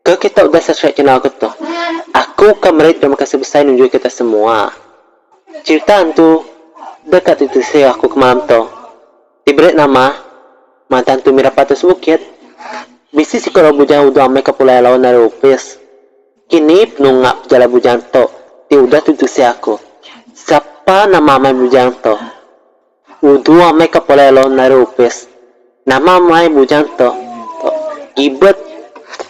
Ke kita udah subscribe channel aku tu. Aku ka meri terima kasih besai nunjui kita semua. Cerita antu deka ti tisi aku ke malam tu. Ti beri nama Mata Antu Mira Patu Sebukit. Bisi siko lalu bujang udah amai ka pulai laun ari opis. Kini penunga pejalai bujang tu ti udah ti tisi aku. Sapa nama amai bujang tu? Uduh meh ke pulai law nari opis. Nama meh ai bujang tu. Gibet.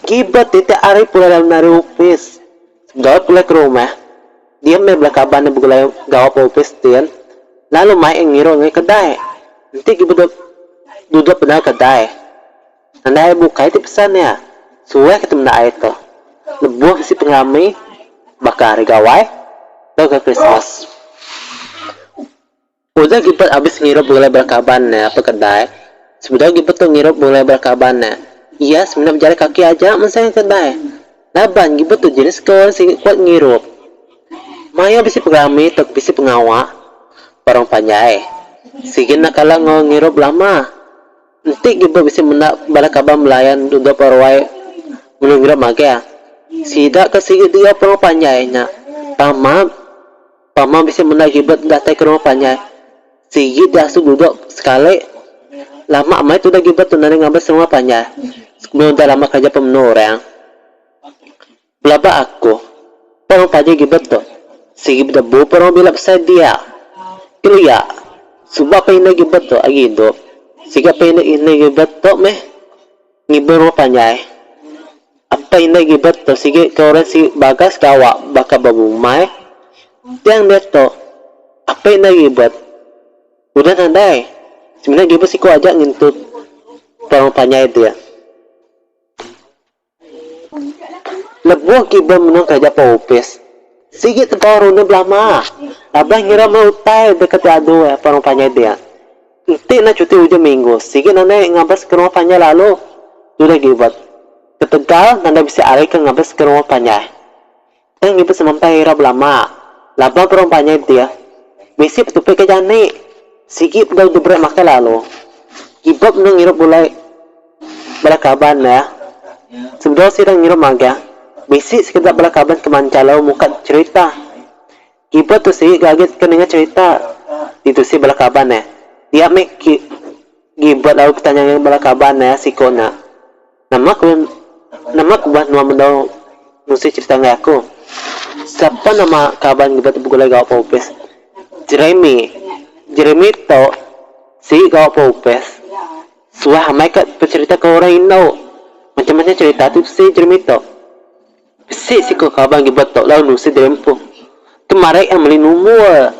Gibet tiap-tiap hari pulai law nari opis. Gawa pulai ke rumah. Dia meh bala kaban ne begulai gawa ba opis din. Lalu mai iya ngiru ngai kedai. Enti gibet dep duduk bendar kedai. Nanda ai bukai ti pesan iya. Suah kitai menda ai tu. Lebuh bisi pengerami baka hari gawai tauka Krismas. Udah Gilbert abis ngirup bunglai bala kaban ne apai kedai, sebedau Gilbert tu ngirup bunglai bala kaban ne, iya semina bejari kaki aja mensai ke kedai. Laban Gilbert tu jenis ke orang sigi kuat ngirup. Mayuh bisi pengerami tau ke bisi pengawa ba orang panjai, sigi enda kala enggau ngirup lama. Enti Gilbert bisi menda bala kaban belayan dudok ba ruai melu ngirup magang, sida ke sigi dua pe orang panjai nya, tama. Pama bisi menda Gilbert enda tai ke rumah panjai. Sigi ti asu dudok sekali. Lama maya tudah Gilbert tu nadai ngabis rumah panjai. Sebelum udah lama kerja pemenu orang. Belaba aku. Pan rumah panjai Gilbert tu. Sigi bedebu pan orang bila besai dia. Kelia. Suba pan indai Gilbert tu agi idup. Sigi pan indai Gilbert tu meh. Ngiber wa panjai. Apai indai ngiber tu sigi ke orang sigi bagas ke awak baka bebumai. Tang diatu, apai indai ngiber udah nadai. Semina ngiber siku aja ngintu tuan wa panjai dia. Lebuh ngiber menua kereja pau opis, sigi tebau runding belama. Abah ngira meh utai deka diadu iya tuan wa panjai dia. Enti enda cuti ujung minggu, sigi nadai ngabas ke rumah panjai lalu tudah givet. Ketegal nadai bisi ari ke ngabas ke rumah panjai. Tang ngibuh semampai ira belama, laban perumah panjai dih bisi petupi ke jani, sigi bedau diberi makai lalu givet benung ngirup gulai bala kaban ne. Sebedau sida ngirup magah, bisi sekeda bala kaban ke manjai lalu muka cherita. Ibuh tu sik ga agi teka ninga cerita ditu sik bala kaban ne. Dia meh ki gibut lalu betanya ngan bala kaban ne siko nya, Nama ku nama ku bah nuan mendau ngusi cerita enggai aku? Sapa nama kaban gibut tu begulai gawa Paupis? Jeremy. Jeremy tu sik gawa Paupis suah amai ka becerita ke orang indu. Macam-macam cerita tu bisi Jeremy tu. Bisi siku kaban ke beletok lalu nusi diri empu. Tu marik iya meli numbul.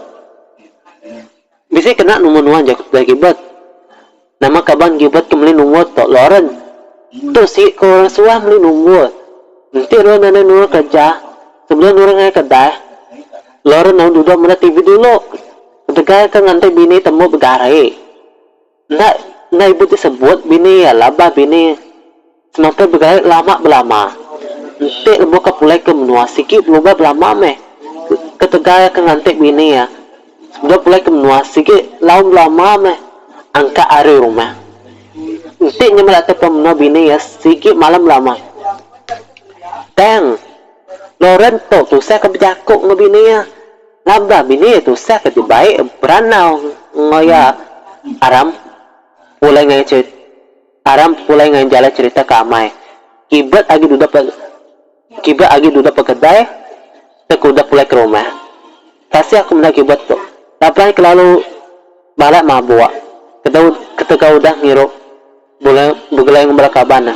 Bisi kena numbul nuan jaku Tudah Gilbert. Nama kaban Gilbert ke meli numbul tu Lauren. Tu sigi ke orang suah meli numbul. Enti Lauren nadai nurun kereja, sebedau nurun ngagai kedai, Lauren lalu duduk meda TV dulu ketegal ke nganti bini tembu begari. Enda enda ibuh ti sebut bini iya labah bini semampai begait lama belama. Enti lebuh ka pulai ke menua sigi belubah belama meh ketegal iya ke nganti bini iya. Sebedau pulai ke menua sigi lau belama meh angkat ari rumah. Enti nya meh datai pulang menua bini iya sigi malam belama. Tang Loren tu tusah ke bejaku enggau bini iya. Laban bini iya tusah ke ti baik beranau enggau iya aram pulai enggau iya cherita aram pulai enggau iya jalai cherita ke amai kibet agi dudok ke kibet agi dudok ke kedai tau ke udah pulai ke rumah. Kasih aku meda kibet tu laban kelalu balat mabuk ketegal udah ngirup. Begelai enggau bala kaban ne.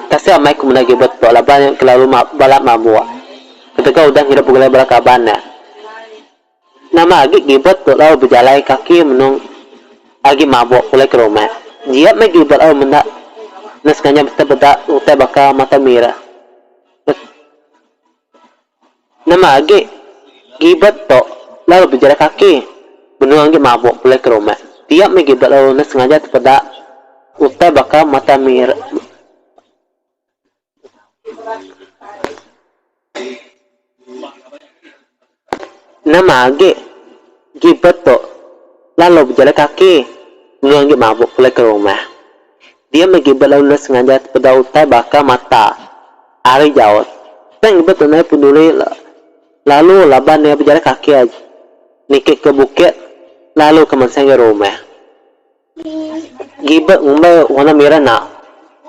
Tasik amai ku menda agi betok laban nya kelalu balat mabuk. Ketegal udah ngidup begelai bala kaban ne. Nama agi gibet dok lalu bejalai kaki menung agi mabuk pulai ke rumah. Jiat meh gibet lalu menda ne sengaja betepeda utai baka mata mira. Nama agi Gilbert tu lalu bejalai kaki. Benung agi mabuk pulai ke rumah. Tiap mih Gilbert lalu neh sengaja tepeda utai baka mata mir. Nama agi Gilbert tu lalu bejalai kaki. Benung agi mabuk pulai ke rumah. Dia meh gi bela ules ngajar sepeda utai baka mata ari jauh. Peng ngebet tunai pun duri lalu laban iya bejalan kaki aja niki ke bukit lalu ke mansang ga rumah. Giba ngumbai warna mira nak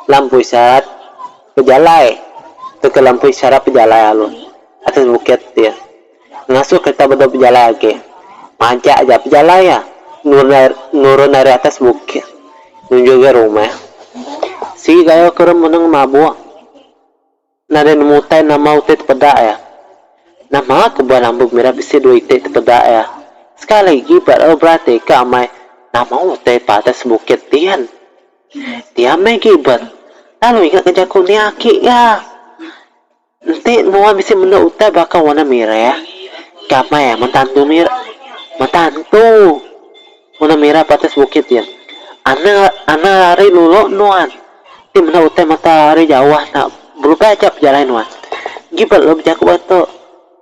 lampui syarat pejalai tauka lampui syarat pejalai alu atas bukit dia. Ngasuh kereta bedau bejalai agi. Majak aja pejalai iya nurun ari nurun ari atas bukit nuju ga rumah. Sigi gayo ke orang menang mabuk nadai nemu utai nama utai tepeda iya. Nama ke buah lambu mira bisi dua iti tepeda iya. Sekali agi baru berati ka amai nama utai pa atas bukit dian. Dia meh gibet lalu ingat ke jaku nia aki iya. Enti nuan bisi menda utai baka warna mirah, gamai ah mentantu mir mentantu warna mirah ba atas bukit dia. Anang anang ari lolo nuan ti meda utai mata ari jauh enda belubas aja pejalai nuan. Enggi ba lalu bejaku ba tu.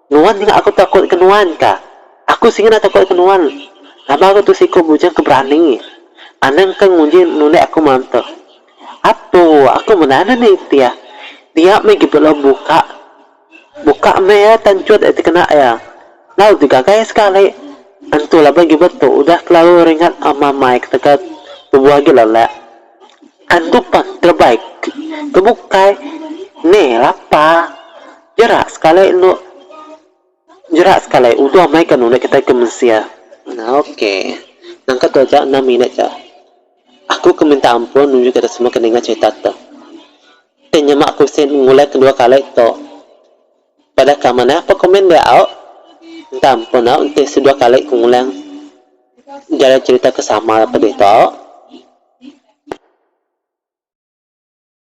Nuan nyengah aku takut ke nuan ka. Aku singkah enda takut ke nuan laban aku tu siku bujang ke berani. Anang ke nguji nulih aku malam tu. Apo aku meda enda nitih. Dia meh agi belum buka. Buka meh iya tan chut agi kena iya. Lalu digagai sekali. Entu laban agi betu udah kelalu ringat mamai ketegal tubuh agi lelak. Entu pah kelebai ke bukai. Neh lapa. Jerak sekali enu. Jerak sekali, udah mai ka nulih kitai ke mensia. Ok. Nangka tu aja enam minit ja. Aku ke minta ampun nuju kitai semua ke ninga cerita tu. Tei nyema aku bisi ngulai kedua kali tu. Padah ka manah pa komen dia au. Minta ampun au enti sedua kali ku ngulang jarai cerita ke sama lalu pedih tu au.